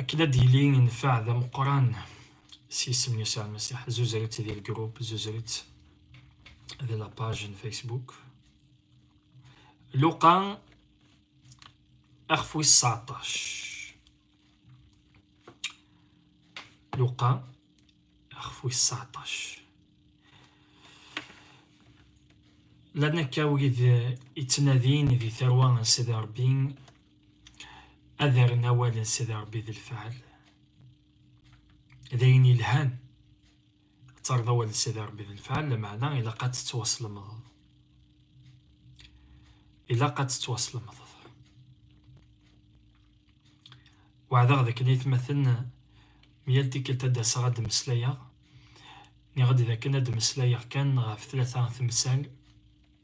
akken ad d-yili yenfeɛ d ameqqran s yisem n Yusa Lmasiḥ zuzret di lgrup zuzret di lapaj n Facebook Luqa axef wis seɛṭac Luqa axef wis seɛṭac llan akka wid ittnadin di tarwa n Sidi Ṛebbi ad rren awal-nnes d Rebbi d lfeɛl, d ayen yelhan ad terreḍ awal-nnes d Rebbi d lfeɛl, lameɛna ilaq ad tettwaslemdeḍ. Ilaq ad tettwaslemdeḍ. Weɛdeɣ d akken aytmaten mi yal tikkelt ad d-aseɣ ad d-mmeslayeɣ, nniɣ-d d akken ad d-mmeslayeɣ kan ɣef tlata temsal,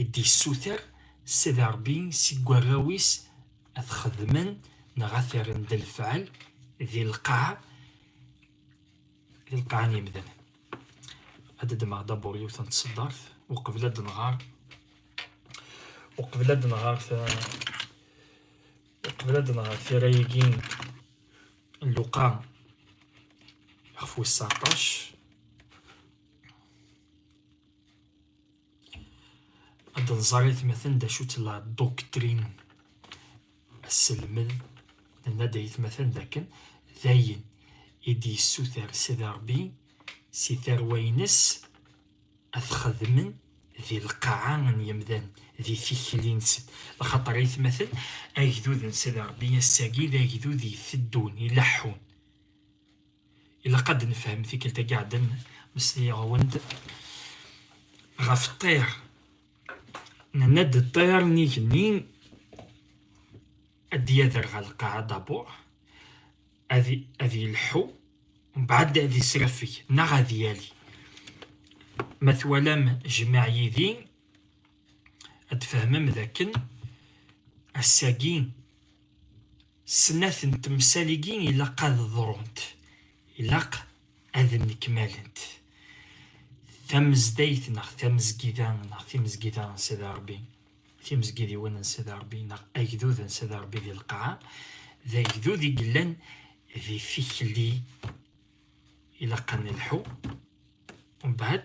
i d-yessuter Sidi Ṛebbi seg warraw-is ad t-xedmen neɣ ad t-rren d lefɛel di lqaɛa di lqaɛa n yemdanen ad d-ddmeɣ dabur yiwet n tseddart uqbel ad d-nɣer uqbel ad d-nɣer uqbel ad d-nɣer tira-agi n Luqa ɣef wis 19 ad nẓer aytmaten d acu-tt la doctrine asselmed nenna-d aytmaten d akken d ayen i d-yessuter Sidi Ṛebbi si tarwa-ines ad t-xedmen di lqaɛa n yemdan di tikli-nsen lxaṭer aytmaten agdud n Sidi Ṛebbi ass-agi d agdud iteddun ileḥḥun ilaq ad nefhem tikkelt agi ɛeddan meslayeɣ-awen-d ɣef ṭṭir nenna-d ṭṭir n igenni ad d-yader ɣer lqaɛa dabur ad yelḥu mbaɛd ad yesrafeg neɣ ad yali ma twalam jmaɛ yid-i ad tfehmem d akken ass-agi snat n temsal-igi ilaq ad ḍrunt ilaq ad nnekmalent tamezdayt neɣ tamezgida neɣ timezgida n Sidi Ṛebbi timezgidiwin n Sidi Ṛebbi neɣ agdud n Sidi Ṛebbi di lqaɛa d agdud i yellan di tikli ilaq ad nelḥu mbeɛd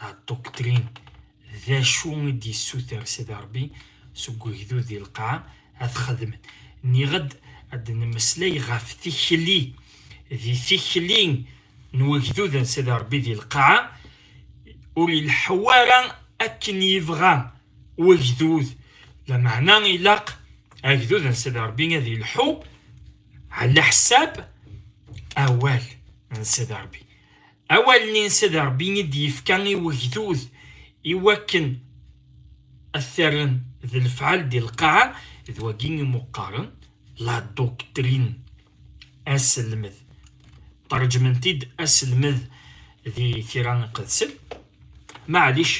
la doctrine d acu i d-yessuter Sidi Ṛebbi seg ugdud di lqaɛa ad txedmen. Nniɣ-d ad d-nemmeslay ɣef tikli, di tikli n ugdud n Sidi Ṛebbi di lqaɛa, ur ileḥḥu ara akken yebɣa wagdud, lameɛna ilaq agdud n Sidi Ṛebbi ad ileḥḥu ɛla ḥsab awal n Sidi Ṛebbi. Awal-nni n Sidi Ṛebbi i d-yefka i wegdud i wakken ad t-rren d lefɛal di lqaɛa, d wagi i mu-qqaren la doctrine, aselmed. Ṭerǧmen-t-id aselmed di tira iqedsen, maɛlic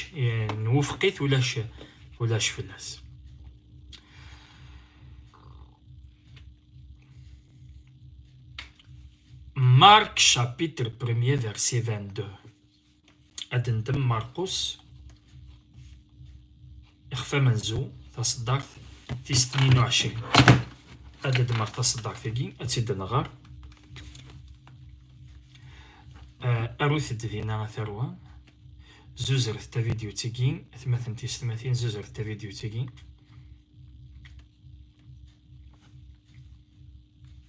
nwufeq-it ulac ulac fell-as. Marc chapitre 1er verset 22 ad ntem Marcus ixef amenzu taṣeddart tis 22 ad d-dmer taṣeddart-agi ad tt-id-nɣer arut-d dina a tarwa zuzret tavidyut-agi atmaten tis tmatin zuzret tavidyut-agi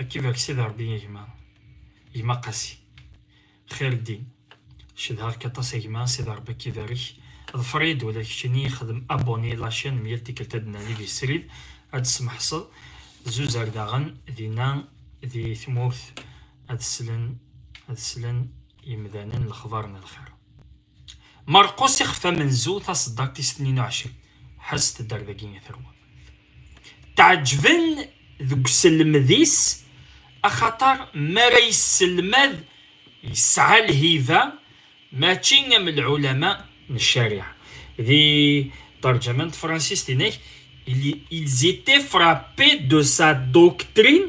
Akka bak sidi Rebbi a gma gma Qasi Xirddin cedhaɣ-k aṭas a gma sidi Rebbi akka ibarek ḍfer-iyi-d ula d keččini xdem abonné la chaîne mi yal tikkelt ad d-nali di srid ad d-smeḥseḍ zuzer daɣen dinna di tmurt ad slen ad slen yemdanen lexbar n lxir Marqus ixef amenzu taseddart is tnin uɛecrin. Ḥesset-d ar dagi i terwa. Tɛeǧben deg uselmed-is axaṭer mi ara yesselmad yesɛa lhiba mačči am lɛulama n ccariɛa. Di terjama n tefransist inek, ils étaient frappés de sa doctrine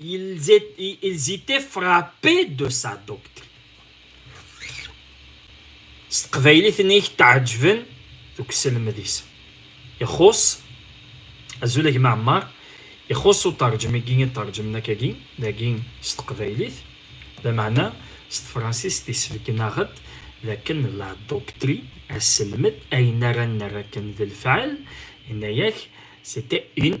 Ils, étaient, ils étaient frappés de sa doctrine. s teqbaylit-nni i k-tɛeǧben deg uselmed-is ixuṣ azul a gma Ɛmar ixuṣ uterjem-agi i terjem nakagi dagi s teqbaylit lameɛna s tefransist isbeggen-aɣ-d d akken la doctri aselmed ayen ara nerr akken d lefɛel yenna-ak c'était une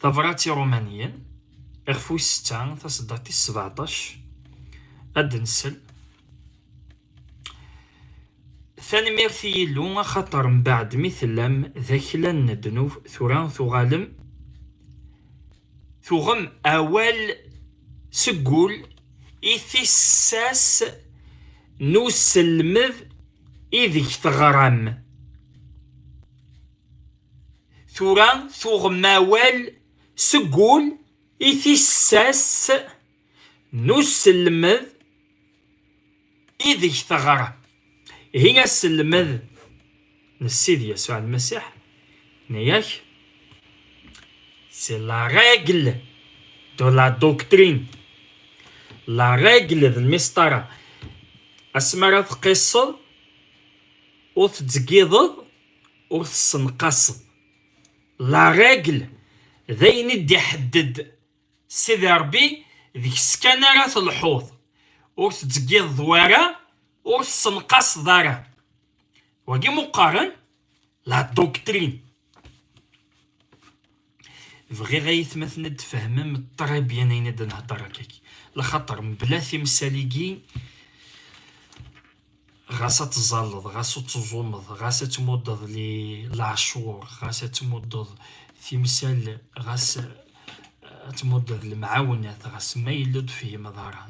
Tabrat Iṛumaniyen, iɣef wis setta, tasedda tis sbeɛṭac, ad d-nsel. Tanemmirt i Yillu, axaṭer mbeɛd mi tellam d akla n ddnub, tura tuɣalem tuɣem awal seg wul i tissas n uselmed ideg teɣram. Tura tuɣem awal seg wul i tissas n uselmed ideg teɣra. Ihi aselmed n Sidi Yasuɛ Lmasiḥ, yenna-ak, c'est la règle de la doctrine. La règle d lmesṭara. Asmi ara tqisseḍ ur tettgiḍeḍ ur tessenqaseḍ la règle d ayen i d-iḥedded Sidi Ṛebbi deg-s kan ara telḥuḍ ur tettggiḍeḍ wara ur tessenqaseḍ ara wagi meqqaren la doctrine Bɣiɣ ayetmaten ad d-fehmem ṭribyen ayen i d-nhedder akkak. Laxaṭer mebla timsal-igi, ɣas ad teẓẓalleḍ, ɣas ad teẓumeḍ, ɣas ad tmuddeḍ leɛcuṛ, ɣas ad tmuddeḍ timsal, ɣas ad tmuddeḍ lemɛawnat, ɣas ma yella ur d-tefhimeḍ ara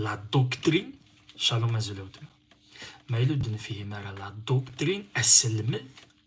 la doctrine, shalom azul a weltma, ma yella ur d-nefhim ara la doctrine, aselmed,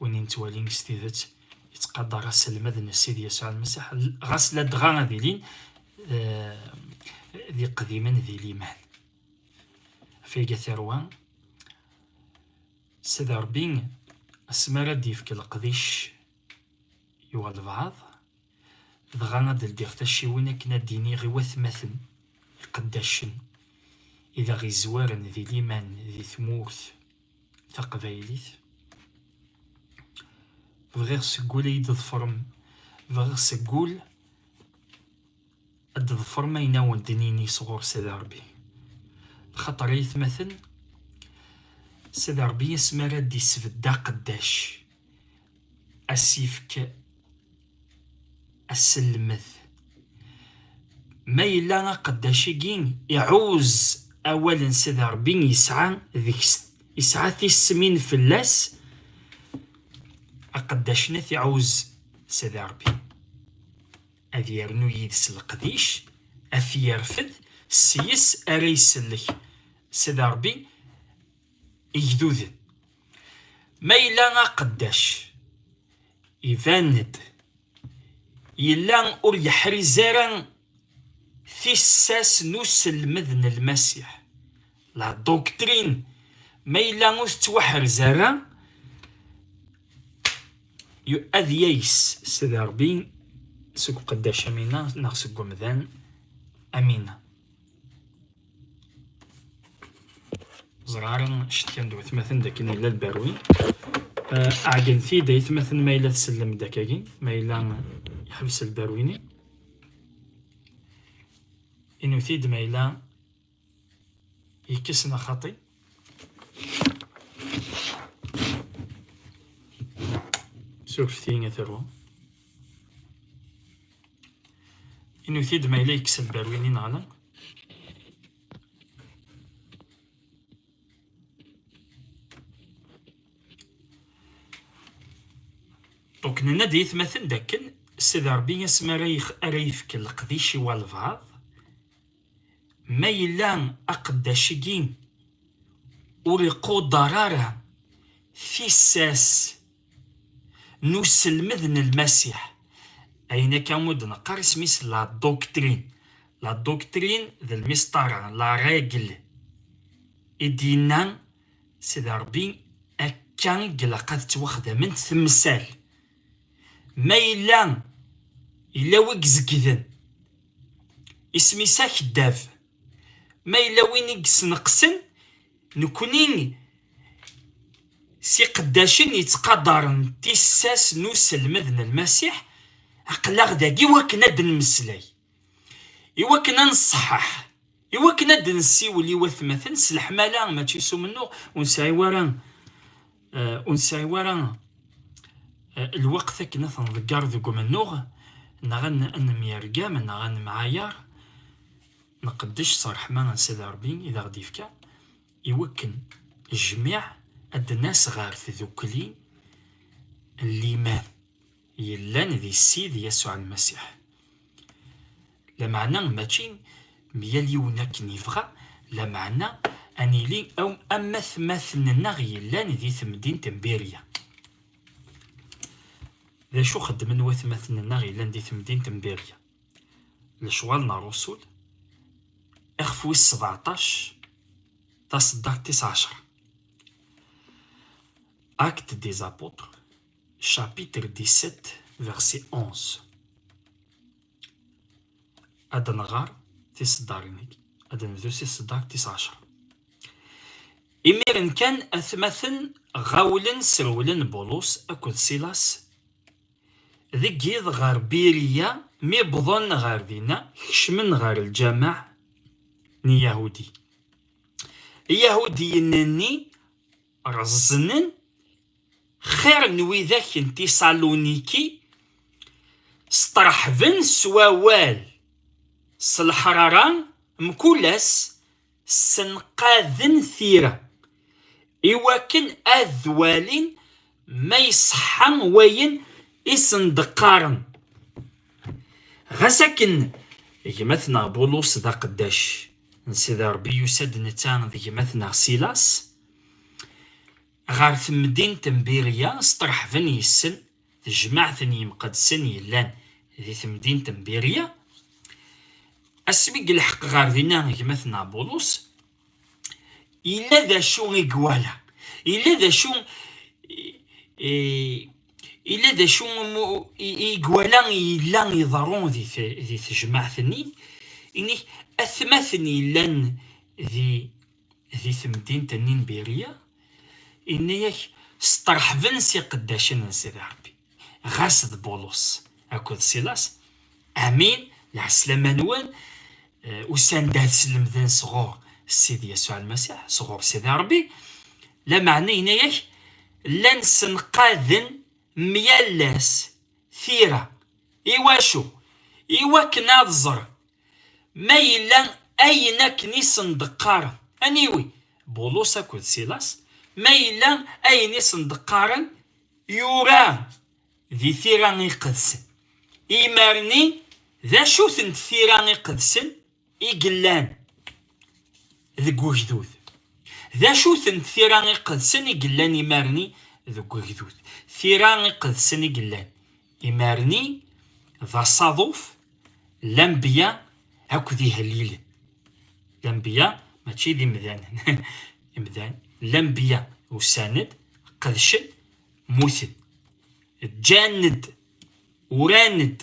win yettwalin s tidet yettqadar aselmed n Sidi Yasuɛ Lmasiḥ ɣas ladɣa ad ilin d iqdimen di liman ɣef iga tarwa Sidi Ṛebbi asmi ara d-yefk leqdic yuɣ albaɛḍ dɣa ad d-ldiɣ tacciwin akken ad d-iniɣ i watmaten iqeddacen i d aɣ-izwaren di liman di tmurt taqbaylit bɣiɣ seg wul ad yi-d-ḍefrem bɣiɣ seg wul ad d-ḍefrem ayen awen d-nini sɣur Sidi Ṛebbi xaṭer ay atmaten Sidi Ṛebbi asmi ara d-isbedd aqeddac asifk aselmet ma yella aqeddac-agi iɛuz awal n Sidi Ṛebbi yesɛa deg-s yesɛa tismin fell-as aqeddac-nni iɛuz Sidi Ṛebbi ad yernu yid-s leqdic ad t-yerfed s yes ara isellek Sidi Ṛebbi igduden. Ma yella aqeddac iban-d yella ur yeḥriz ara tissas n uselmed n Lmasiḥ. La doctrine ma yella ur tettwaḥrez ara ad yayes s derbi seg uqeddac amina neɣ seg umdan amina. ẓraren cetkan d watmaten dakken yella lberwi eh, ɛeggnet-id aytmaten ma yella tsellem-d akkagi ma yella yeḥbes lberwi-nni inut-id ma yella yekkes neɣ xaṭi surfet-iyi ad terwum Inuti-d ma yella yekkes lberwin-i neɣ la. Donc nenna-d i yitmaten d akken Sidi Ṛebbi asmi ara ara yefk leqdic i walbaɛḍ, ma yella aqeddac-agi ur iqudeṛ ara tissas, n uselmed n Lmasiḥ. Ayen akka i d-neqqar isem-is la doctrine. La doctrine d lmisṭara, la règle. I d-yenna Sidi Ṛebbi akka i ilaq ad ttwaxdament temsal. Ma yella yella wi izegden, isem-is akeddab. Ma yella win i yesneqsen, Nekkni s iqeddacen yettqadaren tissas n uselmed n Lmasiḥ, aql-aɣ dagi wakken ad d-nemmeslay, i wakken ad nṣeḥḥeḥ, i wakken ad d-nessiwel i watmaten s leḥmala, mačči s umennuɣ, ur nesɛi wara eh, ur nesɛi wara eh, lweqt akken ad ten-nḍegger deg umennuɣ, neɣ ad nemyergam, neɣ ad nemɛayaṛ. Nqeddec s ṛṛeḥma n Sidi Ṛebbi i d aɣ-d-ifka i wakken jmiɛ ad d-nas ɣer tdukli n liman yellan di Ssid Yasuɛ Lmasiḥ. Lameɛna mačči mi yal yiwen akken yebɣa, lameɛna ad nili am atmaten-nneɣ yellan di temdint n Birya. D acu xeddmen watmaten-nneɣ yellan di temdint n Birya? lecɣal n Rrusul ixef wis sebeɛṭac taseddart tis ɛecṛa Actes des apôtres chapitre 17 verset 11 ad nɣer tiseddarin-agi ad nebdu si tseddart tis ɛecṛa imiren kan atmaten ɣawlen srewlen Bulus akked Silas Deg yiḍ ɣer Biriya, mi wwḍen ɣer dinna, kecmen ɣer lǧameɛ n Yahudi. Iyahudiyen-nni reẓnen xir n widak n Tisaluniki, sṭerḥben s wawal, s leḥrara, mkul ass ssenqaden tira i wakken ad walin ma iṣeḥḥa wayen i sen-d-qqaren. Ɣas akken gma-tneɣ Bulus d aqeddac n Sidi Ṛebbi, yusa-d netta d gma-tneɣ Silas ɣer temdint n Birya, sṭerḥben yes-sen. tejmaɛt n yimqeddsen yellan di temdint n Birya. Asmi i yelḥeq ɣer dinna gma-tneɣ Bulus, yella d acu i iwala, yella d acu yella d acu i iwala yella iḍerru di tejmaɛt-nni, inek atmaten yellan di di temdint n Inbirya, inna-ak sṭerḥben s iqeddacen n Sidi Ṛebbi, ɣas d Bulus akked Silas, amin, lɛeslama-nwen, usan-d ad slemden sɣur Sidi Yasuɛ Lmasiḥ, sɣur Sidi Ṛebbi, lameɛna inna-ak llan ssenqaden myal ass tira, iwacu? iwakken ad ẓren Ma yella ayen akken i sen-d-qqaren, aniwi, Bulus akked Silas, ma yella ayen i sen-d-qqaren yura di tira iqedsen. Imer-nni, d acu-tent tira iqedsen i yellan deg ugdud? D acu-tent tira iqedsen i yellan imer-nni deg ugdud? Tira iqedsen i yellan Imerni d asaḍuf lambiya akked ihellilen. Lambiya mačči d imdanen. Imdan, lambiya usan-d, qedcen, muten. Ǧǧan-d, uran-d,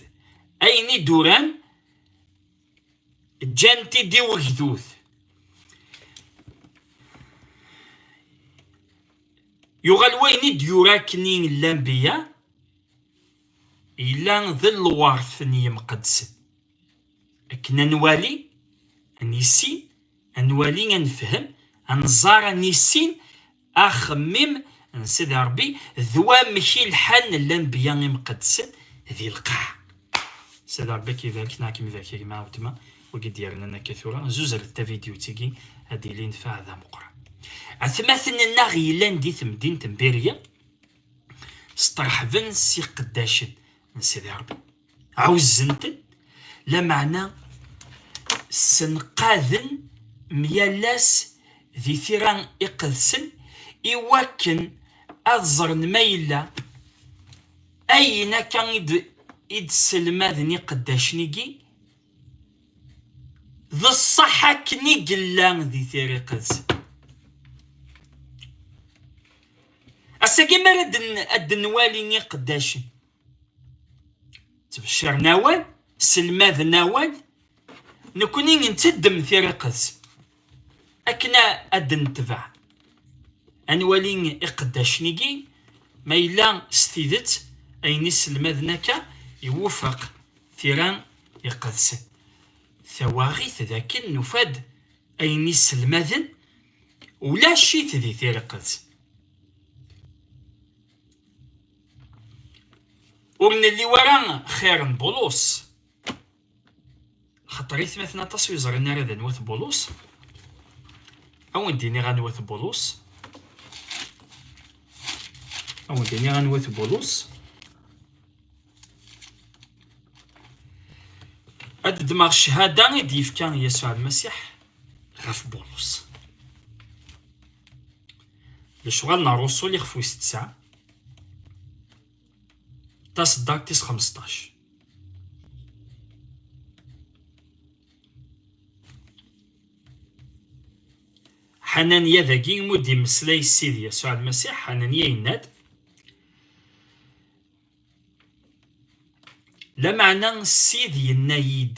ayen i d-uran ǧǧan-t-id i wegdud. Yuɣal wayen i d-yura akken i llan biya, yella d lweṛt n yimqeddsen. Akken ad nwali, ad nissin, ad nwali, ad nefhem, ad nẓer, ad nissin, Axemmem n Sidi Rebbi d wamek i lḥan lanbiya imqeddsen di lqaɛ. Sidi Rebbi k-ibarek neɣ kem-ibarek a gma Awtma, wagi d-yernan akka tura, zuzret tavidyut-agi ad d-yili nnfeɛ d ameqqran. Atmaten-nneɣ yellan di temdint n Birya, steṛḥben s iqeddacen n Sidi Rebbi. ɛuzzent-d lameɛna ssenqaden myal ass di tira iqedsen i wakken ad ẓren ma yella ayen akka i d-sselmaden iqeddacen-igi d ṣṣeḥ akken i yella di tira iqedsen. Ass-agi mi ara ad d-nwali iqeddacen ttbecciren awal selmaden awal nekkni nteddem tiriqet akken ad d-netbeɛ ad nwali iqeddacen-igi ma yella s tidet ayen i selmaden akka iwufeq tira iqedsen tawaɣit d akken nufa-d ayen i selmaden ulac-it di tiriqet ur nli wara xir n Bulus xaṭer i tmaten aṭas ur ẓrin ara d anwa-t Bulus ad wen-d-iniɣ anwa-t Bulus ad wen-d-iniɣ anwa-t Bulus ad ddmeɣ ccahada i d-yefka Yasuɛ Lmasiḥ ɣef Bulus lecɣal n Rruṣul ixef wis tesɛa, taṣeddart tis xmesṭac. Ḥananya dagi mu d-immeslay Sidi Yasuɛ Lmasiḥ, Ḥananya yenna-d, Lameɛna Ssid yenna-yi-d,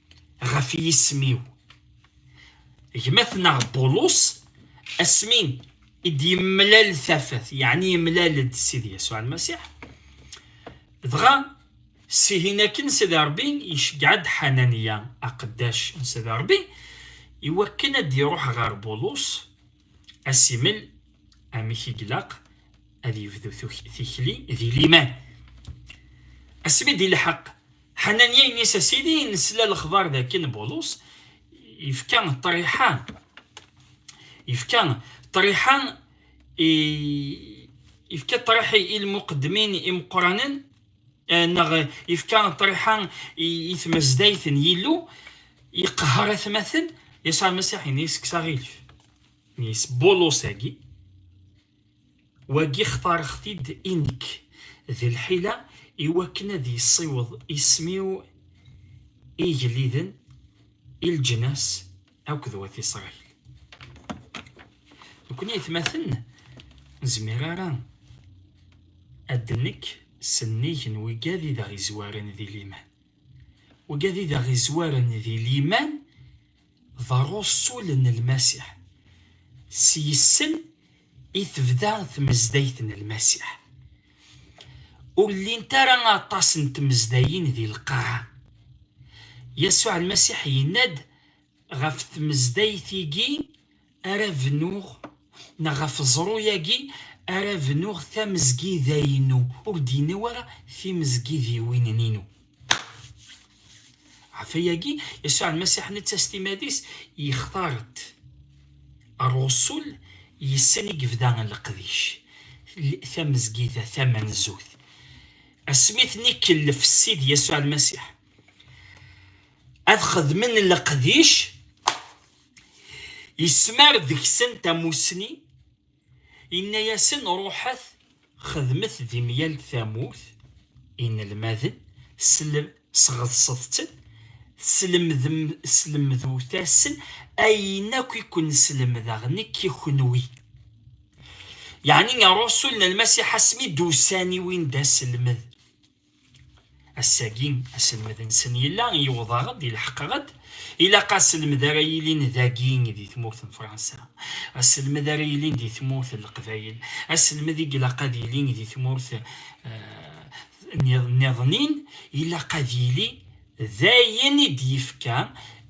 ɣef yisem-iw gma-tneɣ Bulus asmi i d-yemlal tafat yeɛni yemlal-d Sidi Yasuɛ Lmasiḥ dɣa sihin akken Sidi Ṛebbi iceggeɛ-d Ḥananiya aqeddac n Sidi Ṛebbi iwakken ad d-iruḥ ɣer Bulus Asimen, amek i ilaq ad yebdu tikli di liman. Asmi d-ilḥeq Ḥananya ini-as a Sidi, nesla lexbar d akken Bulus yefka ṭriḥa, yefka ṭriḥa i yefka ṭriḥ i lmuqeddmin imeqqranen neɣ ifka ṭriḥa i tmazdayt n Yillu, yeqhar atmaten, Yasuɛ Masiḥ ini-as kkes aɣilif. Ini-as Bulus-agi, wagi xtareɣ-t-id i nekk, d lḥila i wakken ad yessiweḍ isem-iw i igelliden, i leǧnas, Akked wat Isṛayil. Nekkni aytmaten ur nezmir ara ad d-nekk s nnig n wigad i d aɣ-izwaren di liman. Wigad i d aɣ-izwaren di liman d ṛṛusul n Lmasiḥ. S yes-sen i tebda tmezdayt n Lmasiḥ. Ur llint ara aṭas n tmezdayin di lqaɛa. Yasuɛ Lmasiḥ yenna-d, ɣef tmezdayt-igi ara bnuɣ neɣ ɣef ẓru-yagi ara bnuɣ tamezgida-inu, ur d-yenni ara timezgidiwin-inu. Ɣef ayagi, Yasuɛ Lmasiḥ netta s timad-is yextar-d ṛṛusul yes-sen i yebda leqdic, tamezgida tamenzut. Asmi ten-ikellef Ssid Yasuɛ Lmasiḥ. ad xedmen leqdic yesmar deg-sen tamussni yenna-yasen ruḥet xedmet di myal tamurt inelmaden sɣeḍset-ten slemdut-asen ayen akk i ken-slemdeɣ nekk i kenwi yeɛni ṛṛusul n lmasiḥ asmi d-usan i win d aselmed Ass-agi, aselmed-nsen yella yewweḍ-aɣ-d, ileḥqeɣ-d, ilaq aselmed ara yilin dagi di tmurt n Fransa, aselmed ara yilin di tmurt n Leqbayel, aselmed i ilaq ad yili di tmurt niḍen-in, ilaq ad yili d ayen i d-yefka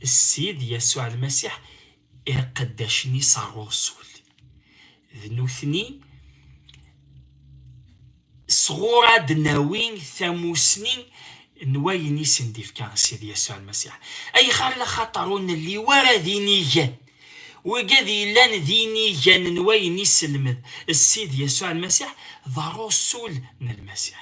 Ssid Yasuɛ Lmasiḥ iqeddacen-is ɣer Uṛsul. D nutni sɣur ad d-nawi tamusni n wayen i sen-d-ifka Sidi Yasuɛ Lmasiḥ. Ayɣer? Laxaṭer ur nelli wara d inigan. Wigad yellan d inigan n wayen iselmed Sidi Yasuɛ Lmasiḥ, d Aṛusul n Lmasiḥ.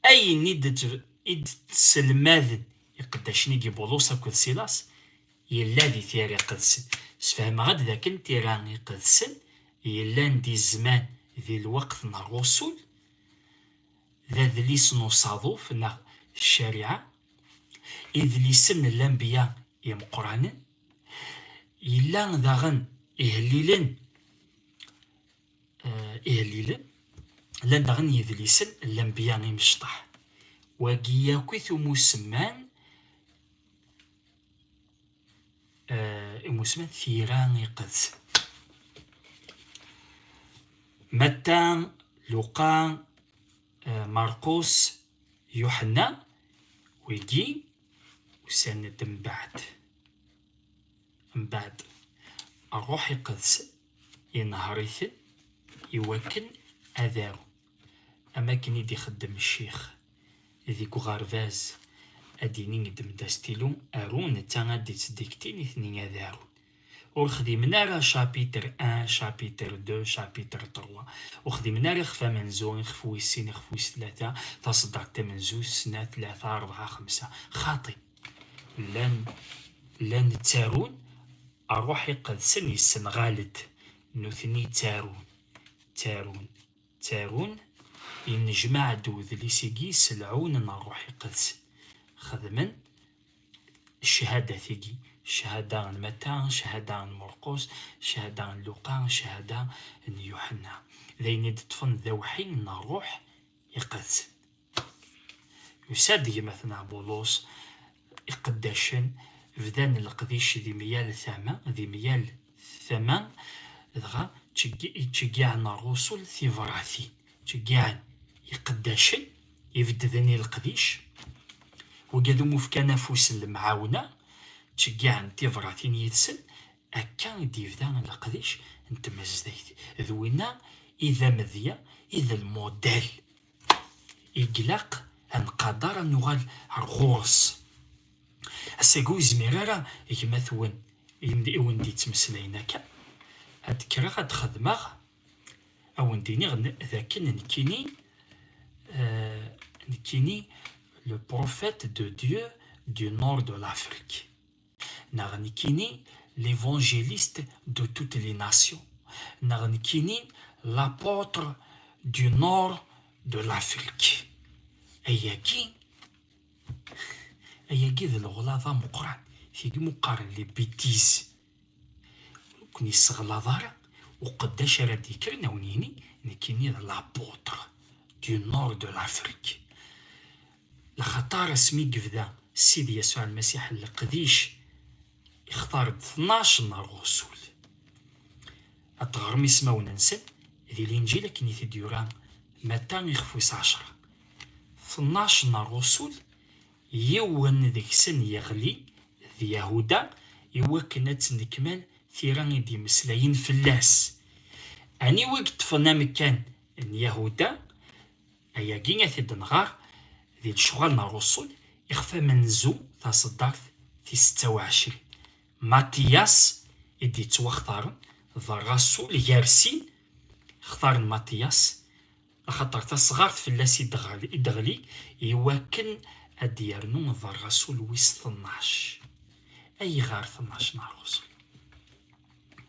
Ayen i d-tselmaden iqeddacen i Bibulus akked Silas yella di tira iqedsen. Sfehmeɣ-d dakken tira iqedsen yellan di zzman di lweqt n rrusul, d adlis n usaḍuf neɣ ccariɛa, idlisen n lanbeyya imeqqranen, yella daɣen ihellilen eh, ihellilen llan daɣen yidlisen n lanbiya imecṭaḥ wagi yakit umusemman eh, imusman tira iqedsen matta luqa eh, marqus yuḥenna wigi usan-d mbeɛd mbaɛd ṛṛuḥ iqedsen inehheṛ-iten iwakken ad arun am akken i d-ixeddem ccix deg uɣerbaz ad d-inin i ddem-d astilu aru netta ad d-ittdikti nitni ad arun ur xdimen ara chapitre un chapitre deux chapitre trois ur xdimen ara ixef amenzu ixef wis sin ixef wis tlata taṣeddart tamenzut snat tlata ṛebɛa xemsa xaṭi Llan, llan ttarun, ṛṛuḥ iqedsen yessenɣal-d, nutni ttarun, ttarun, ttarun, yennejmaɛ-d wedlis-igi s lɛun n ṛṛuḥ iqedsen, xedmen ccahadat-igi, cchada n Matta, cchada n Murqus, cchada n Luqa, cchada n Yuḥenna, d ayen i d-ṭṭfen d awḥi n ṛṛuḥ iqedsen. Yusa-d gma-tneɣ Boulos, iqeddacen bdan leqdic di myal tama, di myal tama, dɣa ttceggiɛen rrusul tibratin, ttceggiɛen iqeddacen ibeddden i leqdic, wagad umi fkan afus n lemɛawna, ttceggiɛen tibratin yid-sen, akka i d-yebda leqdic n tmazdayt, d winna i d amedya, i d lmudell. Iglaq ad nqadar ad nuɣal ar ɣur-s. Ass-agi ur izmir ara gma-twen i wen-d-yettmeslayen akka. Ad d-kreɣ ad d-xedmeɣ, ad wen-d-iniɣ d akken nekkini, euh, nekkini le prophète de Dieu du nord de l'Afrique. Neɣ nekkini, l'évangéliste de toutes les nations. Neɣ nekkini, l'apôtre du nord de l'Afrique. Ayagi, ayagi d leɣlaḍ ameqqran. Tigmi qqaren les bêtises. Ur ken-yesseɣlaḍ ara uqeddac ara d-yekkren awen-yini nekkini d l'apôtre du nord de l'Afrique. Lxaṭer asmi i yebda Sidi Yasuɛ Lmasiḥ leqdic, ixtar-d tnac n ṛṛusul. Ad teɣrem ismawen-nsen di Linǧil akken i t-id-yura Matta ixef wis ɛecṛa. Tnac n ṛṛusul, yiwen deg-sen yeɣli d Yahuda i wakken ad tennekmal tira i d-yemmeslayen fell-as. Aniwa i yeṭṭfen amekkan n Yahuda? Ayagi ad t-id-nɣer di lecɣal n Rruṣul ixef amenzu taseddart tis setta u ɛecrin. Matiyas i d-yettwaxtaren d Rrasul gar sin, xtaren Matiyas axaṭer tasɣart fell-as i d-teɣli i wakken ad d-yernu d Rrasul wis tnac. Ayɣer tnac n Rruṣul?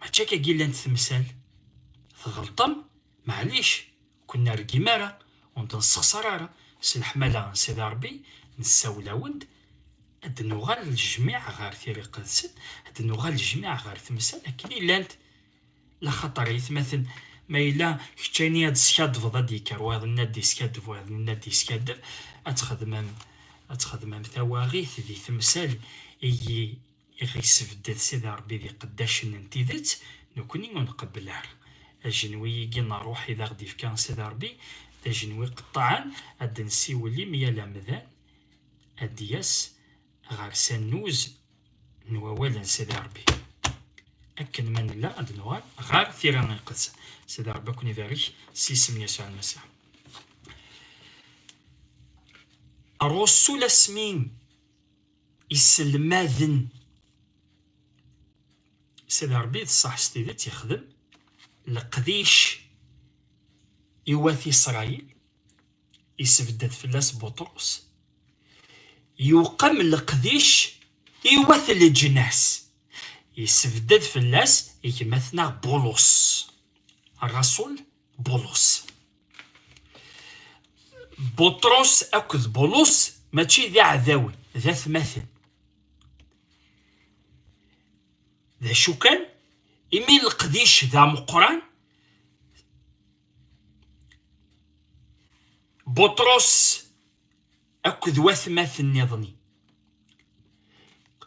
Mačči akka i llant temsal. Tɣelṭem, maɛlic, ur ken-nergim ara, ur nten-ssexṣar ara, s leḥmala n Sidi Ṛebbi, nessawel-awen-d ad d-nuɣal lejmiɛ ɣer tira iqedsen, ad d-nuɣal lejmiɛ ɣer temsal akken i llant, laxaṭer ayetmaten, ma yella kečč ayen i ad d-teskadbeḍ ad d-yekker wayeḍ nni ad d-yeskadeb, wayeḍ nni ad d-yeskadeb, ad txedmem, ad txedmem tawaɣit di temsal i yi, I ɣ-yessebded Sidi Ṛebbi d iqeddacen n tidet, nekkni ur nqebbel ara. Ajenwi-igi n ṛṛuḥ i d aɣ-d-ifka Sidi Ṛebbi, d ajenwi iqeṭṭɛen, ad d-nessiwel i myal amdan ad d-yas ɣer s annuz n wawal n Sidi Ṛebbi, akken ma nella ad d-nuɣal ɣer Tira Iqedsen. Sidi Ṛebbi ad ken-ibarek s yisem n Yasuɛ Lmasiḥ. Ṛṛusul asmi. iselmaden sidi rebbi d ṣṣeḥ s tidet yexdem leqdic i wat isṛayil isbedd fell-as buṭrus yuqem leqdic i wat leǧnas isbedd fell-as gma-tneɣ bulus raṣul Bulus. Buṭrus akked Bulus mačči d iɛdawen, d atmaten. D acu kan, imi leqdic d ameqqran, Buṭrus akked watmaten-nniḍen.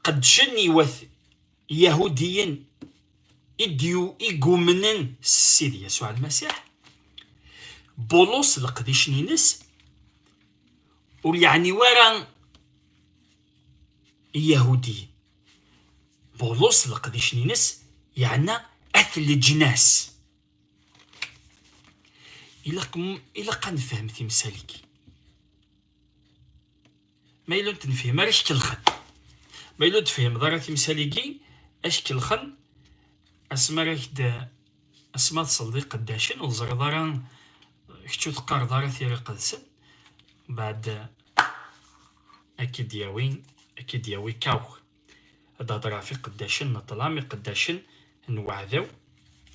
Qeddcen i wat Yahudiyen i d-igumnen Ssid Yasuɛ Lmasiḥ, Bulus leqdic-nnes ur yeɛni wara Yahudiyen. Bulus leqdic-nnes yeɛna at leǧnas. ilaq ilaq ad nefhem timsal-agi ma yella ur t-nefhem ara ackelxen ma yella ur tefhimeḍ ara timsal-agi ackelxen asmi ara ak-d asmi ad tesleḍ iqeddacen ur teẓriḍ ara kečč ur teqqareḍ ara tira iqedsen baɛd ak-id-yawi ak-id-yawi kawk ad heḍṛeɣ ɣef iqeddacen n ṭṭlam, iqeddacen n weɛdaw,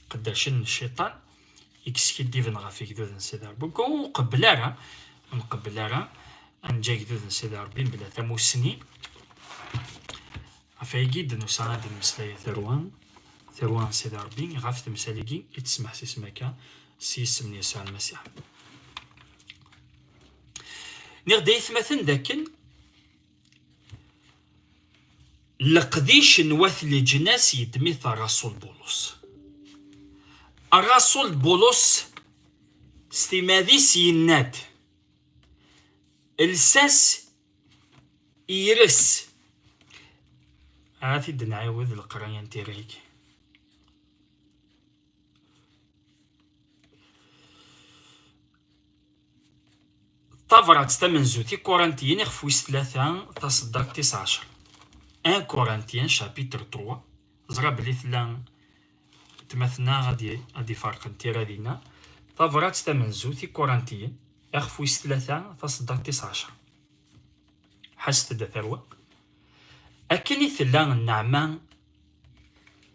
iqeddacen n cciṭan, i yeskiddiben ɣef igduden n Sidi Ṛebbi. Ur nqebbel ara, ur nqebbel ara ad neǧǧ agdud n Sidi Ṛebbi mebla tamussni. Ɣef wayagi d-nusa ad d-nemmeslay tarwa, tarwa n Sidi Ṛebbi, ɣef temsal-agi i tesmeḥsisem akka s yisem n Yasuɛ Lmasiḥ. Niɣ d ayetmaten d akken leqdic n wat leǧnas yeddem-it Rasul Bulus. Rasul Bulus s timad-is yenna-d lsas yres ara t-id nɛiwed leqraya n tirrigi Tabrat tamenzut i Korintiyen iɣef wis tlata taseddart tis ɛecr. 1 Korintiyen chapitre 3 ẓra belli tella tmatna ad ifarqen tira dinna. Tabrat tamenzut i Korintiyen iɣef wis tlata taseddart tis ɛecr. Ḥaset-d a tarwa. Akken i tella nneɛma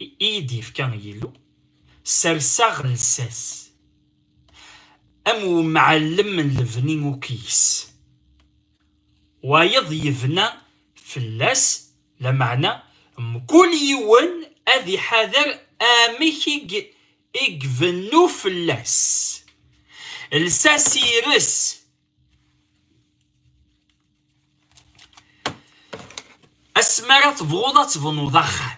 i yi-d-yefka Yillu, serseɣ llsas. am umɛallem n lebni ukyis, wayeḍ yebna fell-as, lameɛna mkul yiwen ad iḥader amek i ibennu fell-as, lsas ires, asmi ara tebɣuḍ ad tebnuḍ axxam.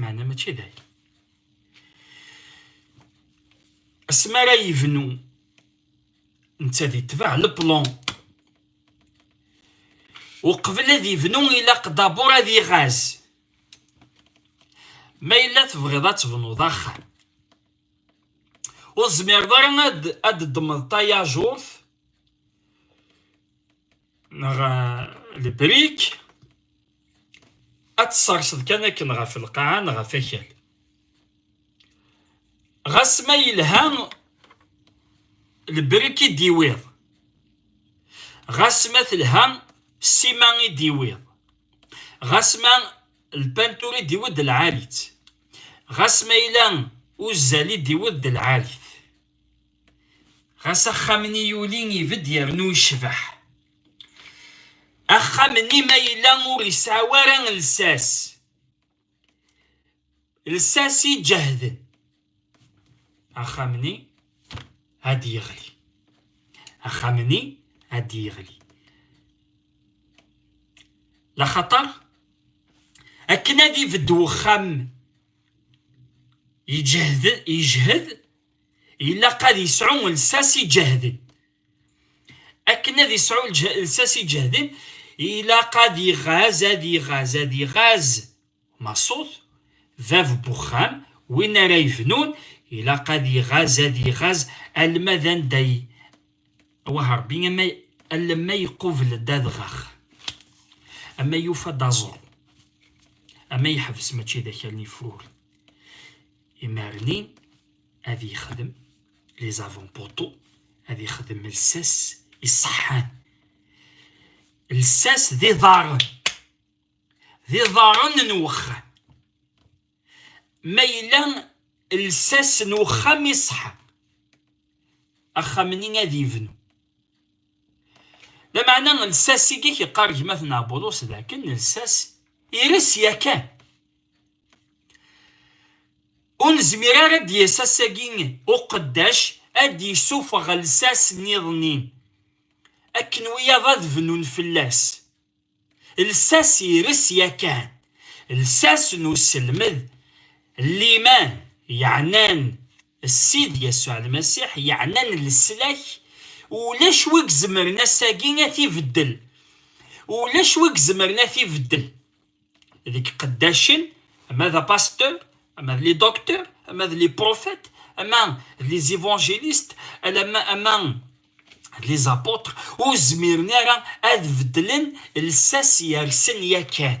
Meɛna mačči d aya. Asmi ara yebnu netta di tbeɛ leplon uqbel ad yebnu ilaq dabur ad iɣaz ma yella tebɣiḍ ad tebnuḍ axxam ur tezmireḍ ara ad d-ddmeḍ tayajuṛt neɣ lebrik ad tesserseḍ kan akken ɣef lqaɛa neɣ ɣef akal ɣas ma yelha lebrik i d-iwiḍ ɣas ma telha ssima i d-iwiḍ ɣas ma lpantur i d-iwiḍ d lɛali-tt ɣas ma yella uzzal i d-iwiḍ d lɛali-t ɣas axxam-nni yuli ibedd yernu yecbeḥ axxam-nni ma yella ur yesɛi ara lsas lsas iǧehden axxam-nni ad yeɣli axxam-nni ad yeɣli laxaṭer akken ad ibedd wexxam yejhed ilaq ad yesɛu lsas iǧehden akken ad yesɛu lsas iǧehden ilaq ad iɣaz ad iɣaz ad iɣaz maṣut bab n uxxam win ara yebnun ilaq ad iɣaz ad iɣaz alma d anda wah rebbi ama alamma iqubel-d adɣax ama yufa-d aẓru ama yeḥbes mačči d akal n ifruren Imarni ad yexdem les avant poteaux ad yexdem lsas iṣeḥḥan lsas d iḍarren d iḍarren n wexxam ma yella lsas n wexxam iṣeḥḥa axxam-nni ad yebnu lameɛna lsas i yeqqar gma-tneɣ Bulus d akken lsas ires yakan Ur nezmir ara ad d-yas ass-agi uqeddac ad d-yessufeɣ llsas niḍen-nni, akken wiyaḍ ad bnun fell-as. Llsas ires yakan, llsas n uselmed, liman, yeɛnan Ssid Yasuɛ Lmasiḥ, yeɛnan leslak, ulac wi izemren ass-agi ad t-ibeddel, ulac wi izemren ad t-ibeddel. deg qeddacen ama d apasteur ama d li docteur ama d li prophète ama d li évangéliste alama ama d li apôtres ur zmiren ara ad beddlen lsas yersen yakan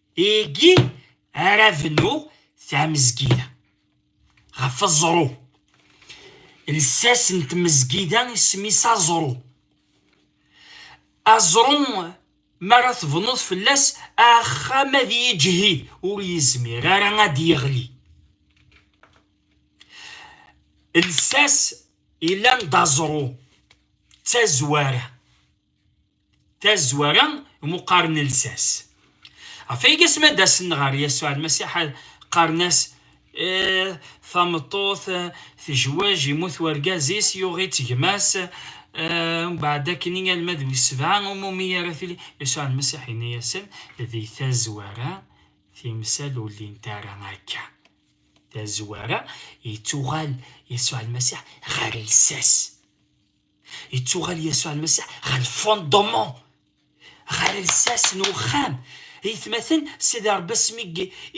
Igi ara bnu tmezgida ɣef aẓru. Lsas n tmezgida isem-is aẓru. Aẓru mi ara tebnuḍ fell-as axxam ad yeǧhid ur yezmir ara ad d-yeɣli. Lsas yellan d aẓru d tazwara. tazwara muqaren lsas ɣef ay gas ma d-asen ɣer yasuɛ lmasiḥ qqaren-as eh, tameṭṭut eh, tejwej imut wergaz-is yuɣ-itt gma-s eh, mbeɛd akken i alma d wis sebɛa umumi ara tili yasuɛ lmasiḥ yenna-yasen di tazwara timsal ur llint ara akka tazwara yettuɣal yasuɛ lmasiḥ ɣer lsas Yettuɣal Yasuɛ Lmasiḥ ɣer lfondemon, ɣer lsas n uxxam. Itmaten, Sidi Ṛebbi asmi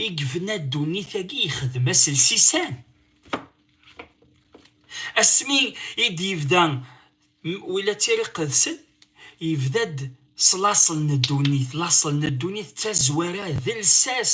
i yebna ddunit-agi yexdem-as lsisan. Asmi i d-yebda wila tiriqedsen, yebda-d s laṣel n ddunit. Laṣel n ddunit d tazwara, d lsas.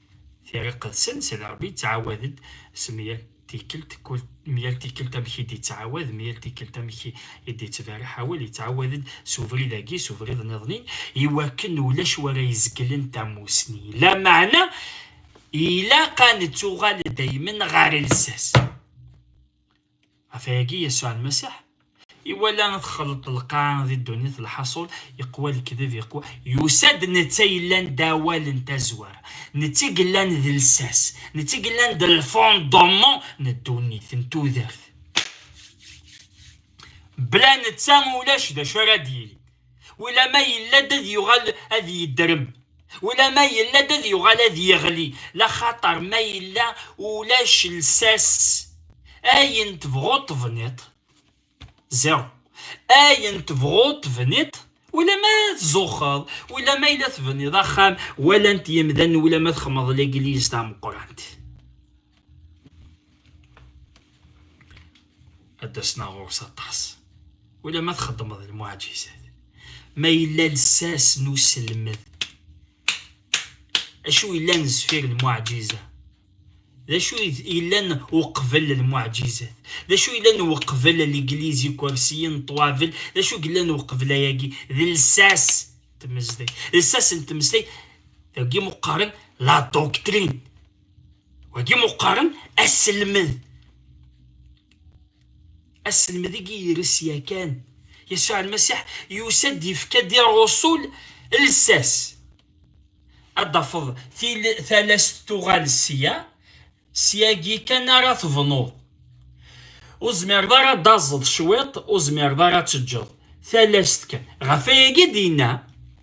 Tira iqedsen, Sidi Ṛebbi yettɛawad-d s myal tikkelt, myal tikkelt amek i d-yettɛawad, myal tikkelt amek i d-yettberriḥ awal, yettɛawad-d s ubrid-agi, s ubrid niḍen-in, i wakken ulac wara izeglen tamusni. Lameɛna, ilaq a nettuɣal daymen ɣer lsas. Ɣef wagi Yasuɛ Lmasiḥ iwala txelleḍ lqaɛa di ddunit, lḥaṣul, iqwa lekdeb, iqwa, yusa-d netta yellan d awal n tazwara, netta i yellan d lsas, netta i yellan d lfondement n ddunit, n tudert. Bla netta ulac d acu ara d-yili. Ulamma yella-d ad yuɣal ad yeddrem, ulamma yella-d ad yuɣal ad yeɣli, laxaṭer ma yella ulac lsas, ayen tebɣuḍ tebniḍ, zéro, ayen tebɣuḍ tebniḍ, ulamma tzuxxeḍ, ulamma yella tebniḍ axxam, walan-t yemdanen, ulamma txedmeḍ legliz tameqqrant. ad d-asna ɣur-s aṭas wala ma txeddmeḍ lmuɛjizat ma yella lsas n uselmed acu yellan zfir lmuɛjiza d acu yellan uqbel lmuɛjizat d acu yellan uqbel ligliz ikersiyen ṭwabel d acu yellan uqbel ayagi d lsas tmezdeg lsas n tmeslay dagi muqqaren la doctrine wagi muqqaren aselmed aselmed i yires yakan yasuɛ almasiḥ yusa-d yefka-d i ṛṛusul lsas ad d-tafeḍ talast tuɣal sya syagi kan ara tebnuḍ ur zmireḍ ara ad taẓeḍ cwiṭ ur zmireḍ ara ad teǧǧeḍ talast kan ɣef ayagi d-yenna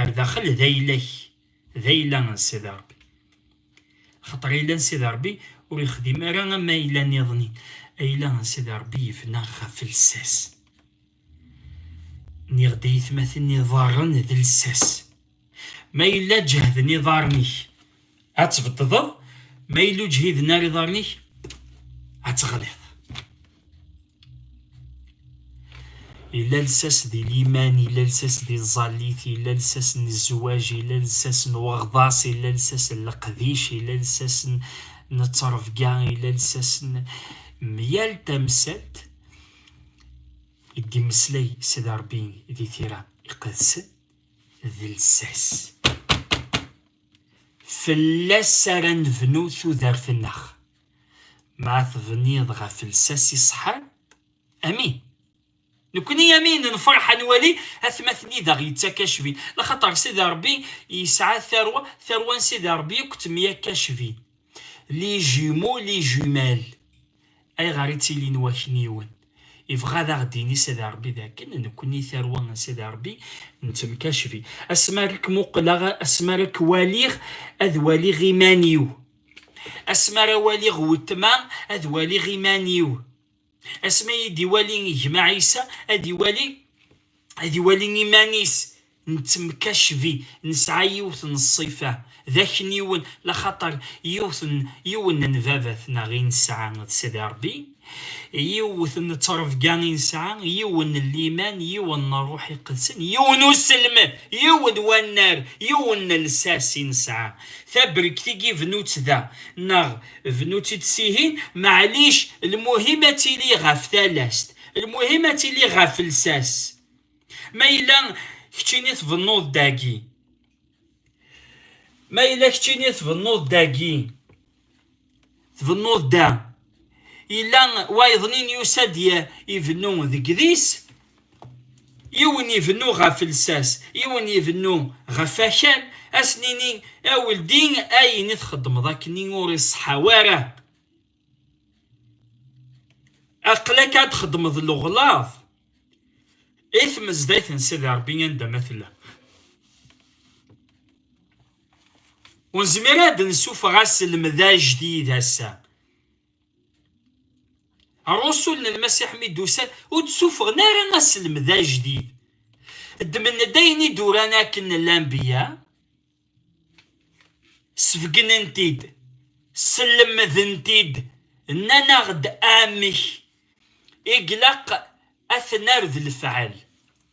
Ar daxel d ayla-k, d ayla n Sidi Ṛebbi. Axaṭer ayla n Sidi Ṛebbi ur yexdim ara am ayla niḍen. Ayla n Sidi Ṛebbi yebna ɣef lsas. Nniɣ-d i yitmaten iḍarren d lsas. Ma yella ǧehden iḍarren-ik, Ad tbeṭṭdeḍ ma yella ur ǧhiden ara iḍarren-ik ad teɣliḍ. Yella lsas di liman, yella lsas di tẓallit, yella lsas n zzwaj, yella lsas n weɣḍas, yella lsas n leqdic, yella lsas n ttrebga, yella lsas n myal tamsalt i d-imeslay Sidi Ṛebbi di tira iqedsen d lsas. Fell-as ara nebnu tudert-nneɣ. Ma tebniḍ ɣef lsas iṣeḥḥan, amin. Nekni amin nefreḥ ad nwali atmaten i d aɣ-yettak acbin, laxaṭer Sidi Ṛebbi yesɛa tarwa, tarwa n Sidi Ṛebbi akk temyakk acbin. Les jumeaux, les jumelles. Ayɣer i ttilin wakniwen? Ibɣa ad aɣ-d-ini Sidi Rebbi dakken nekkni tarwa n Sidi Rebbi n temkacbi. Asmi ara k-muqleɣ, asmi ara k-waliɣ, ad waliɣ iman-iw. Asmi ara waliɣ weltma, ad waliɣ iman-iw. asmi ay d-iwali gma Ɛisa ad iwali ad iwali iman-is nettemkacbi nesɛa yiwet n ṣṣifa d akniwen laxaṭer yiwet n yiwen n babat neɣ i nesɛa d Sidi Ṛebbi, yiwet n ttrebga i nesɛa, yiwen n liman, yiwen n Ṛṛuḥ Iqedsen, yiwen n uselmed, yiwen n wannar, yiwen n llsas i nesɛa. Tabrekt i yebnut da neɣ Bnu-tt-id sihin, maɛlic, lmuhim ad tili ɣef talast, lmuhim ad tili ɣef lsas. Ma yella keččini tbennuḍ dagi, ma yella keččini tbennuḍ dagi, tbennuḍ da, yella wayeḍnin yusa-d ibennu deg dis, Yiwen ibennu ɣef lsas, yiwen ibennu ɣef akal, ad s-nini, a weldi ayen i txeddmeḍ akkenni ur iṣeḥḥa wara, aql-ak ad txeddmeḍ leɣlaḍ i tmezdayt n Sidi Rebbi anda ma tella. Ur nezmir ad d-nessufeɣ aselmed ajdid ass-a. Rusul n Lmasiḥ mi d-usan ur d-suffɣen ara aselmed ajdid. Ddmen-d ayen i d-uran akken lanbiya, sbegnen-t-id, sellemden-t-id, nnan-aɣ-d amek i glaq ad t-nerr d lefɛel.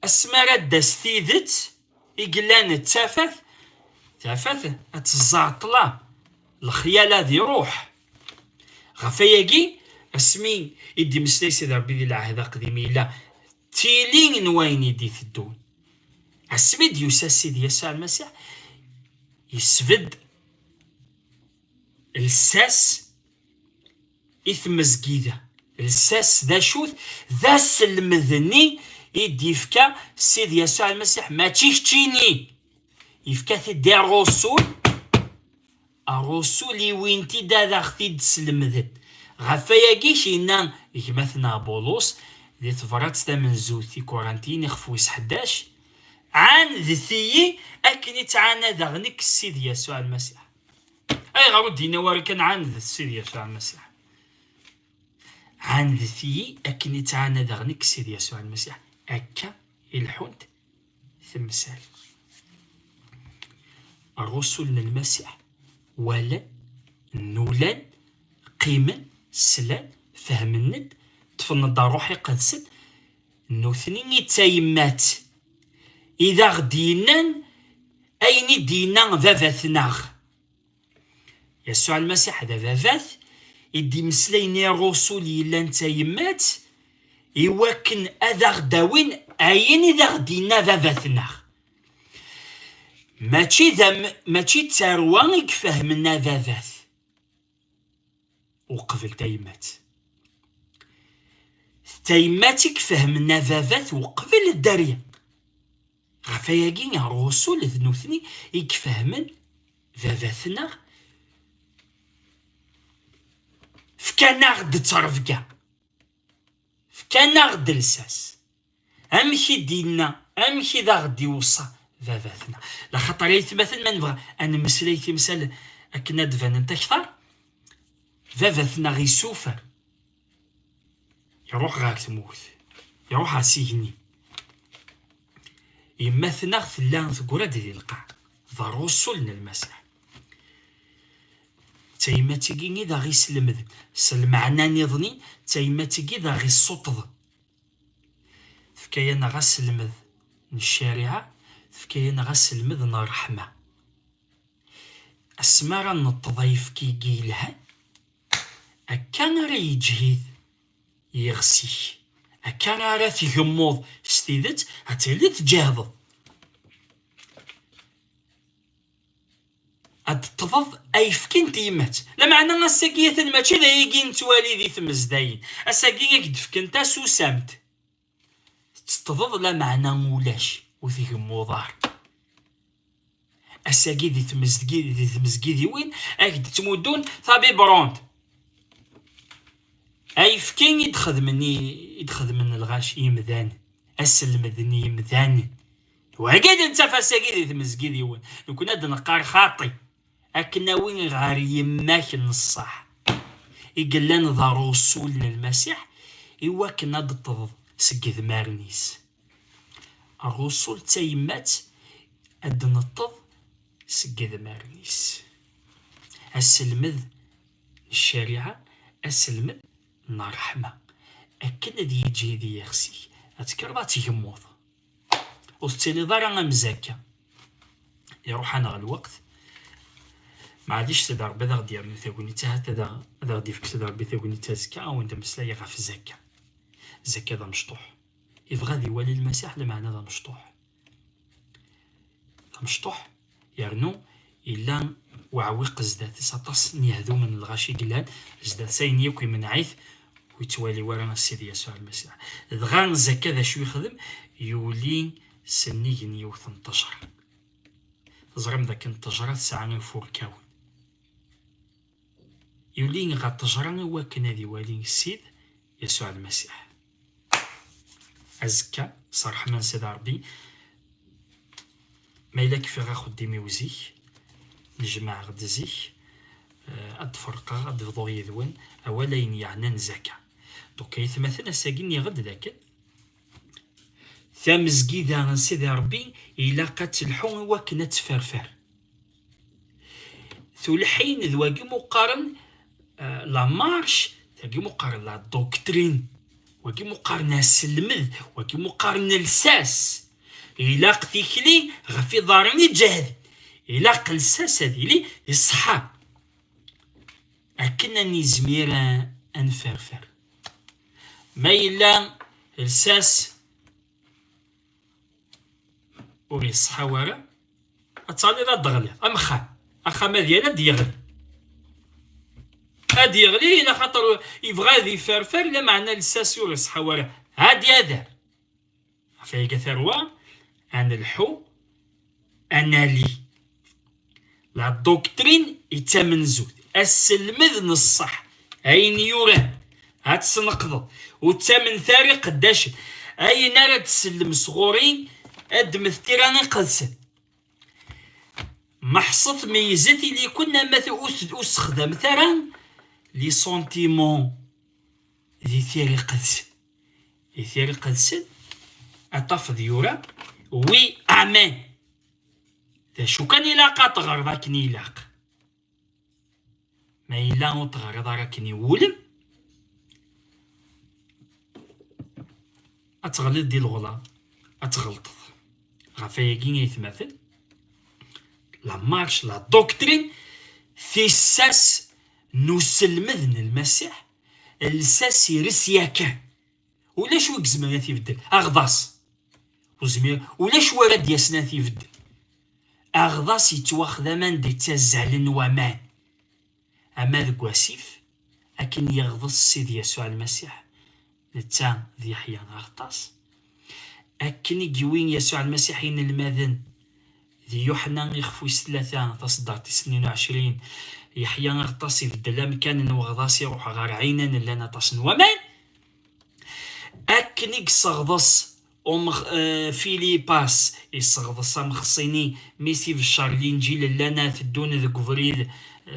Asmi ara d-tas tidet i yellan d tafat, tafat ad tezzaɛ ṭṭla, lexyal ad iruḥ. Ɣef wayagi, asmi i d-imeslay Sidi Rebbi di lɛehd aqdim yella d tili n wayen i d-iteddun. Asmi i d-yusa Sidi Yasuɛ Lmasiḥ, yesbedd lsas, i tmezgida lsas d acu-t d aselmed-nni i d-yefka Sid Yasuɛ Lmasiḥ mačči keččini yefka-t-id i rrusul rrusul iwin-t-id ad aɣ-t-id-slemden ɣef wayagi yenna gma-tneɣ Bulus di tebrat tamenzut i Kurantiyen ixef wis ḥdac ɛandet-iyi akken i ttɛanadeɣ nekk Sid Yasuɛ Lmasiḥ Ayɣer ur d-yenna wara kan ɛandet Sidi Yasuɛ Lmasiḥ? Ɛandet-iyi akken i ttɛanadeɣ nekk Sidi Yasuɛ Lmasiḥ. Akka i lḥunt temsal. Rrusul n Lmasiḥ walan, nulan, qqimen, slan, fehmen-d, ṭṭfen-d ṛṛuḥ iqedsen, Nutni i d tayemmat i d aɣ-d-yennan ayen i d-yenna Baba-tneɣ. Yasuɛ Lmasiḥ d Ababat i d-imeslayen i Rrusul yellan d tayemmat i wakken ad aɣ-d-awin ayen i d aɣ-d-yenna Baba-tneɣ. Mačči d mačči d tarwa i ifehmen Ababat. uqbel tayemmat d tayemmat i ifehmen ababat uqbel dderya ɣef ayagi rrusul d nutni i ifehmen babatneɣ fkan-aɣ-d ttrebga fkan-aɣ-d lsas Amek i d-yenna, amek i d aɣ-d-iweṣṣa baba-tneɣ. Laxaṭer aytmaten ma nebɣa ad nemmeslay timsal akken ad d-banent akteṛ, baba-tneɣ isufer, iṛuḥ ɣer tmurt, iṛuḥ ɣer s igenni. Yemma-tneɣ tella teggra-d di lqaɛ, d aṛusul n Lmasiḥ. D tayemmat-agi i d aɣ-islemden, s lmeɛna-nniḍen-in, d tayemmat-agi i d aɣ-issuṭṭḍen. tefka-yaneɣ aselmed n ccariɛa, tefka-yaneɣ aselmed n ṛṛeḥma. Asmi ara neṭṭeḍ ayefki-agi yelhan, akka ara yeǧhid yiɣes-ik, akka ara tgemmuḍ s tidet, ad tiliḍ tǧehdeḍ. ad d-ṭṭḍeḍ ayefki n tyemmat. Lameɛna ass-agi atan mačči d ayagi i nettwali di tmezdayin. Ass-agi ak d-fken tasusamt, teṭṭḍeḍ lameɛna ulac, ur tgemmuḍ ara. Ass-agi di tmezgidiwin ak d-ttmuddun tabiberont, ayefki i d-xedmen lɣaci yemdanen, ad selmden yemdanen. Wagi d nettaf ass-agi di tmezgi d yiwen, nekkni ad d-neqqar xaṭi, ad k-nawi ɣer yemma-k n ṣṣeḥ, i yellan d Rrusul n Lmasiḥ, i wakken ad d-ṭṭḍeḍ seg yedmaren-is. Rrusul d tayemmat ad d-neṭṭeḍ seg yedmaren-is. Aselmed n ccariɛa, aselmed n ṛṛeḥma, akken ad yeǧhid i yixsi-k, ad tekkreḍ ad tgemmuḍ. ur tettiliḍ ara am zakka iruḥ-aneɣ lweqt maɛlic tada rebbi ad aɣ-d-yernu tagnit ahat ad aɣ-d-ifk tada rebbi tagnit azekka awen d ameslay ɣef zakka zakka d amecṭuḥ yebɣa ad iwali lmasiḥ lmeɛna d amecṭuḥ d amecṭuḥ Yernu yella uɛewwiq zdat-s aṭas n yehdumen n lɣaci i yellan zdat-s, ayen yakk imenneɛ-it ur yettwali wara Sidi Yasuɛ Lmasiḥ. Dɣa zakka d acu yexdem? Yuli s nnig n yiwet n ṭṭejra. Teẓram dakken ṭṭejra tesɛa ifurkawen. Yuli ɣer ṭṭejra i wakken ad iwali Ssid Yasuɛ Lmasiḥ. azekka s ṛṛeḥma n Sidi Ṛebbi ma yella kfiɣ axeddim-iw zik nejmeɛ-ɣ-d zik ad d-ferqeɣ ad d-bḍuɣ yid-wen awal ayen yeɛnan zaka donc ay atmaten ass-agi nniɣ-d dakken tamezgida n Sidi Ṛebbi ilaq ad telḥu i wakken ad tferfer Tulḥin d wagi muqqaren euh, la marche, wagi muqqaren la doctrine, wagi muqqaren aselmed, wagi muqqaren lsas. Ilaq tikli ɣef iḍaren iǧehd, ilaq lsas ad yili iṣeḥḥa. Akken ad nizmir ad nferfer. Ma yella lsas ur yeṣḥaw ara ad taniḍ ad d-ɣliḍ am axxam axxam ad yal ad d-yeɣli ad yeɣli ila xaṭer yebɣa ad iferfer lameɛna lsas ur iṣḥaw ara ad yader ɣef iga tarwa ad nelḥu ad nali La doctrine i d tamenzut asselmed n ṣṣeḥ ayen yuran ad tesneqdeḍ ur ttamnet ara iqeddacen ayen ara d-tsellem sɣur-i ad d-mmet tira iqedsen meḥṣet meyyzet ili-ken ama ur sexdamet ara li sentiment di tira iqedsen di tira iqedsen ad tafeḍ yura wi amen d acu kan ilaq ad teɣreḍ akken ilaq ma yella ur teɣriḍ ara akken iwulem ad teɣliḍ di lɣla ad tɣelṭeḍ ɣef ayagi ay tmaten la marche la doctrine tissas n uselmed n lmasiḥ lsas ires yakan ulac wi gezmer ad t-ibeddel aɣḍas uzmir ulac wi ara d-yasen ad t-ibeddel aɣḍas yettwaxdam anda yettazzalen waman ama deg wasif akken yeɣḍes Sid Yasuɛ Lmasiḥ netta d Yeḥya d aɣḍas akken i yewwi Yasuɛ Lmasiḥ inelmaden D Yuḥna ixef wis tlata, taṣeddart tis tnin u ɛecrin, Yeḥya Aɣeṭṭas ibeddel amkan n weɣḍas iruḥ ɣer Ɛinan llan aṭas n waman. Akken i yesseɣḍes um Filipas, yesseɣḍes amexṣini mi t-ibeccer Linǧil llan a teddun deg ubrid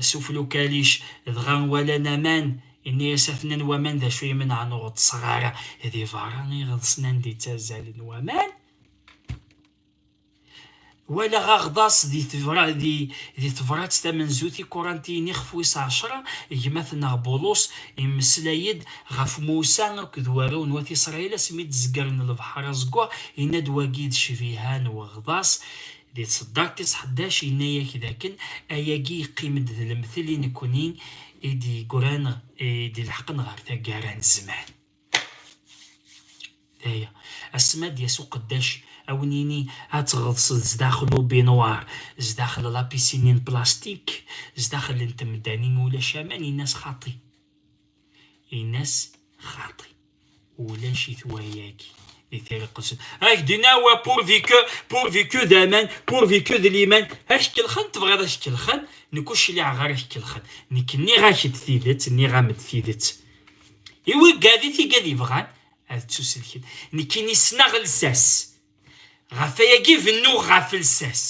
s uflukalic dɣa walan aman, yenna-as atnan waman d acu imenɛen ur ɣeṭṭseɣ ara di berra iɣeḍsen anda i ttazzalen waman. walaɣ aɣḍas di tebra di di tebrat tamenzut i kurantiyin ixef wis ɛecra gma-tneɣ Bulus immeslay-d ɣef Musa akked warraw n wat Isṛayil asmi d-zeggren lebḥer aẓeggaɣ, yenna-d wagi d cbiha n weɣḍas di tseddart tis ḥdac, yenna-ak d akken ayagi yeqqim-d d lemtel i nekkni i d-yeggran i d-ileḥqen ɣer taggara n zzman. aya asma d yas uqeddac awen yini ad tɣeḍsed sdaxel ubinwar sdaxel lapisini n plastik sdaxel n temdani ma ulac aman inas xaṭi inas xaṭi ulac-it wayagi di tiriqet ak dinawa pourvu que pourvu que d aman pourvu que d liman ak kelxen tebɣiḍ ak kelxen nekk ur cliɛeɣ ara ak kelxen nekk nniɣ-ak-d tidet nniɣ-am-d tidet I wigad-it i gad yebɣan ad ttuselken. Nekkini ssneɣ lsas. Ɣef ayagi bennuɣ ɣef lsas.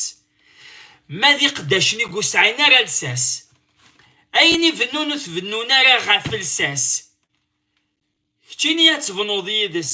Ma d iqeddacen i ur sɛin ara lsas. Ayen i bennun ur t-bennun ara ɣef lsas. Keččini ad tebnuḍ yid-s.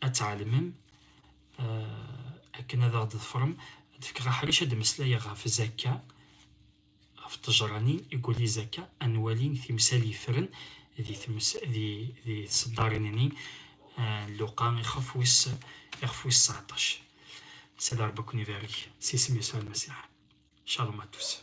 ad tɛelmem eh, akken ad aɣ-d-ḍefrem ad fkeɣ aḥric ad d-meslayeɣ ɣef zakka ɣef ṭejranin i wuli zakka ad nwali timsal yefren di tseddarin-nni eh, luqa ixef wis ixef wis 19 Sidi Ṛebbi ad ken-ibarek s isem Yasuɛ Lmasiḥ. Shalom à tous.